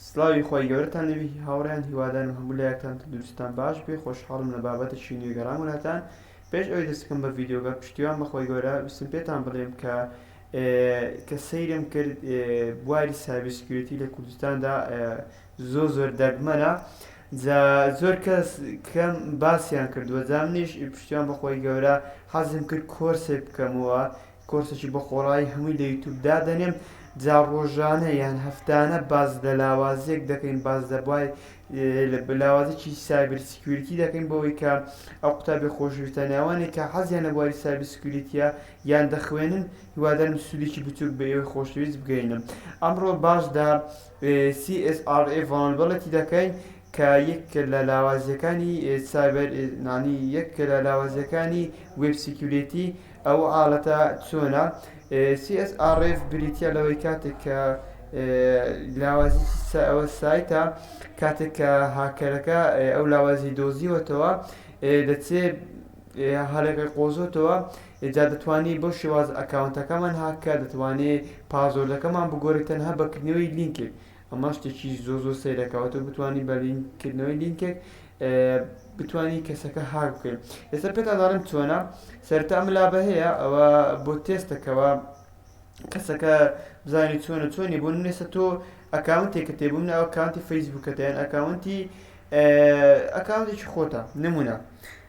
سڵاوی خۆی گەورەتان لەوی هاوڕیان هیوادارم هەموو لایەکتان تەندروستان باش بێ خۆشحاڵم لە بابەتێکی نوێ گەڕاموناتان پێش ئەوی دەستکەم بە ڤیددیوگە پشتیوان بەخۆی گەورە ویستم پێتان بڵێم کە کە سەیرم کرد بواری سابسکیورتی لە کوردستاندا زۆر زۆر دەگمەنە جا زۆر کەس کەم باسیان کردووە جا منیش پشتیان بەخۆی گەورە حەزم کرد کۆرسێک بکەمەوە کۆرسێکی بە خۆڕایی هەمووی لە یوتوب دادەنێم جا ڕۆژانە یان هەفتانە باز لە لاوازیەک دەکەین باز لە بای لاوازێکی سایبر سکیوریتی دەکەین بەوەی کە ئەو قوتابی خۆشویستە ناوانێک کە حەزیان لە بواری سایبر سکیوریتیە یان دەخوێنن هیوادارم سوودێکی بچووک بە ئێوەی خۆشەویست بگەینم ئەمڕۆ باش دا CSRA ڤۆڵنربڵتی دەکەین کە یەک لە لاوازیەکانی سایبەر نانی یەک لە لاوازیەکانی وێب سیکیورێتی ئەو حاڵەتە چۆنە CSRF بریتە لەوەی کاتێک کە لاوازی ئەوە سایتە کاتێک کە هاکەرەکە ئەو لاوازی دۆزیوەتەوە دەچێت هەڵێکە قۆزۆتەوە ئینجا دەتوانی بەو شێوازە ئەکاونتەکەمان هاک کە دەتوانی پاسۆردەکەمان بگۆری تەنها بە کردنەوەی لینکێک ئەمە شتێکی زۆر زۆر سەیرە کە ئەتۆ بتوانی بە لینک کردنەوەی لینکێک بتانی کەسەکە هاک بکەین ئێستا پێتان دەڵێم چۆنە سەرتا ئەم لابە هەیە ئەوە بۆ تێستەکەەوە کەسەکە بزانانی چۆنە چۆنی بۆ نێسە تۆ ئەکاونتێکە تێ بووم ئەکاونتی فەیسبووکەتەیان ئەکاونتی ئەکاونتێکی خۆتە نمونە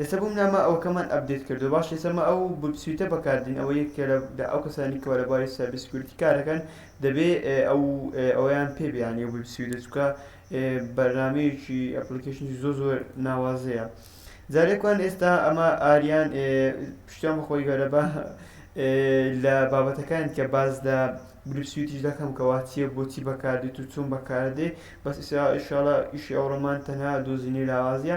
ئێستا بۆم نا مە ئەوەکەمان ئەپدەیت کردوە باشە ئێستا مە ئەو بوت سویتە بەکاردین ئەوە یەکێکە لە لە ئەو کەسانی کەوا لە بواری سایبر سیکوریتی کارەکەن دەبێ ئێ ئەو ئێ ئەویان پێ بێ یانی ئەو بوت سویدە چونکە ئێ بەرنامەیەکی ئەپلیکەیشنی زۆ زۆر ناوازەیە جا لێکوان ئێستا ئەمە ئاریان ئێ پشتیان بە خۆی گەورە بە ئێ لە بابەتەکان کە باس لە گروپ سویتیش دەکەم کەوا چیە بۆچی بەکاردێت و چۆن بەکاردێ بەس ئیسا ئیشاڵا ئیشی ئەوڕۆمان تەنها دۆزینەوی لاوازیە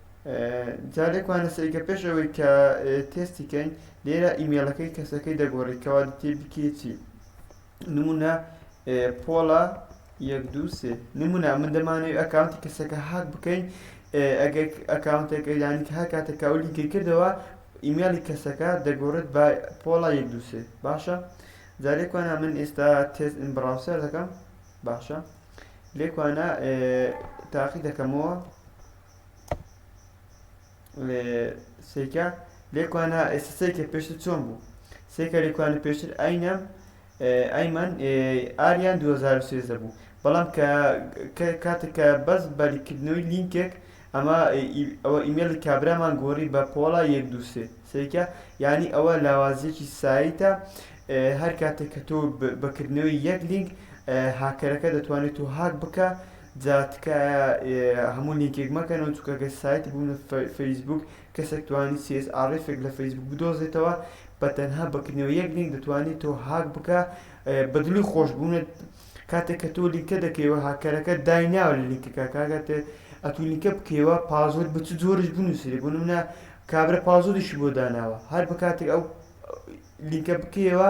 جا لێکمانە سەیکە پێش ئەوەی کە تێستی کەین لێرە ئیمێلەکەی کەسەکەی دەگۆڕی کەوا دەتێ بکێچی نمونە پۆڵە یەک دو سێ نمونە من دەمانەوێت ئەکاونتی کەسەکە هاک بکەین ئەگەر ئەکاونتێک ئەیدانی کە هاکاتە کاولی گەکردەوە ئیمێڵی کەسەکە دەگۆڕێت بە پۆڵا یەک دووسێ باشە جارێکوانە من ئێستا تێز ئین بڕاوسەر دەکەم باشە لێکوانە تاقی دەکەمەوە سیکە لێکوانە ئێستا سیکە پێشتر چۆن بوو سێکە لێکوانە پێشتر ئاینەم ئەیمەن ئاریان 2013 بوو بەڵام کە کاتێککە بەس بەریکردنەوەی لینکێک ئەمە ئەوە ئیمێڵی کابرامان گۆڕی بە پۆڵا یەک دووسێ سیکە ینی ئەوە لاوازیەکی سایتە هەر کاتێک کە تۆ بەکردنەوەی یەک لینک هاکەرەکە دەتوانێت و هاک بکە جا تکایە هەموو لینکێک مەکەنەوە چونکە گەر سایت بوونە فەیسبووک کەسێک توانی سی ئێس ئاڕ ئێفێک لە فەیسبووک بدۆزێتەوە بە تەنها بە کردنەوە یەک لینک دەتوانێت تۆ هاک بکا بە دڵی خۆشبوونت کاتێک کە تۆ لینکە دەکەیەوە هاککەرەکە دایناوە لە لینکەکە کاکات ئەتوو لینکە بکەیەوە پازۆرد بە چ جۆرش بنووسێ بنوونە کابرا پازۆریشی بۆ داناوە هەر بە کاتێک ئەو لینکە بکەیەوە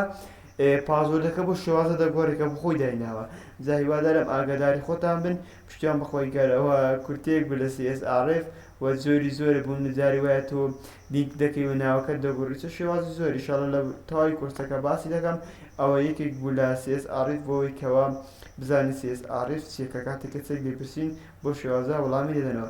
پاسۆردەکە بۆ شێوازە دەگۆرێ کە بۆ خۆی دایناوە جا هیوادارم ئاگاداری خۆتان بن پشتیان بخۆی گەر ئەوە کورتەیەک بوو لە سی ئێس ئاڕ ئێف و جۆری زۆرە بۆ منە جاری وایە تۆ لینک دەکەی و ناوەکەت دەگۆری چ شێوازی زۆر ئیشاڵا لە تەواوی کۆرسەکە باسی دەکەم ئەوە یەکێک بوو لە سی ئێس ئاڕ ئێف بۆوەی کەوە بزانین سی ئێس ئاڕ ئێف چیە کە کاتێک کە چێک دەیپرسین بۆ شێوازە وڵامی دەدەنەوە